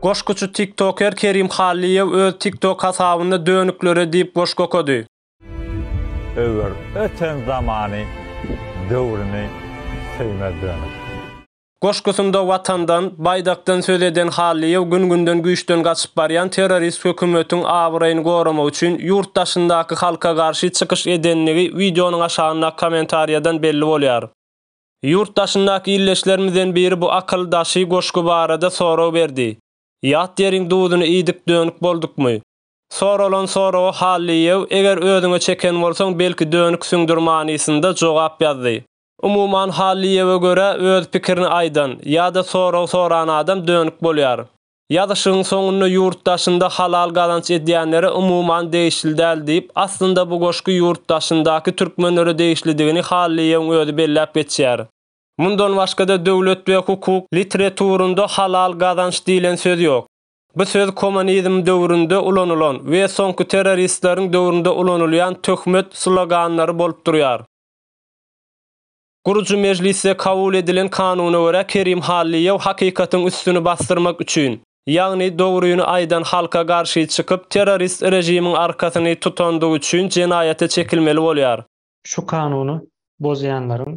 Goşguçy tiktoker Kerim Hallyýew öz TikTok hasabynda Dönüklere diýip goşgy okady. Öwer öten zamany döwrüni söýmez dönük. Goşgusynda Watandan, Baýdakdan söz eden Hallyýew gün-günden güýçden gaçyp barýan terrorist hökümetiň abraýyny goramak üçin ýurt daşyndaky halka garşy çykyş edenligi wideonyň aşagyndaky kommentariýadan belli bolýar. Ýurt daşyndaky ildeşlerimizden biri bu akyl daşy goşgy barada sorag berdi. Ýat ýeriň duzuny iýdik dönük boldukmy? Soralan soraga Hallyýew eger özüňe çeken bolsaň belki dönüksiňdir manysynda jogap ýazdy. Umuman Hallyýewe görä öz pikirini aýdan, ýa-da sorag soran adam dönük bolýar. Ýazyşygyň soňunda ýurt daşynda halal gazanç edýänlere umuman degişli däl diýip, aslynda bu goşgy ýurt daşyndaky türkmenlere degişlidigini Hallyýewiň özi belläp geçýär. Mundan başga-da Döwlet we hukuk litreturynda halal gazanç diýlen söz ýok. Bu söz komonizm döwründe ulanylan we soňky terroristleriň döwründe ulanylýan töhmet sloganlary bolup durýar. Gurujy mejlisde kabul edilen kanuna görä Kerim Hallyýew hakykatyň üstüni basdyrmak üçin, ýagny dogryny aýdan halka garşy çykyp terrorist režimiň arkasyny tutandygy üçin jenaýata çekilmeli bolýar. Şu kanuny bozýanlaryň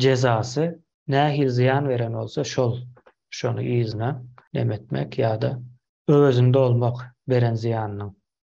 jezasy nähili zyýan beren bolsa şol şony yzyna nemetmek ýa-da öwezini dolmak beren zyýanynyň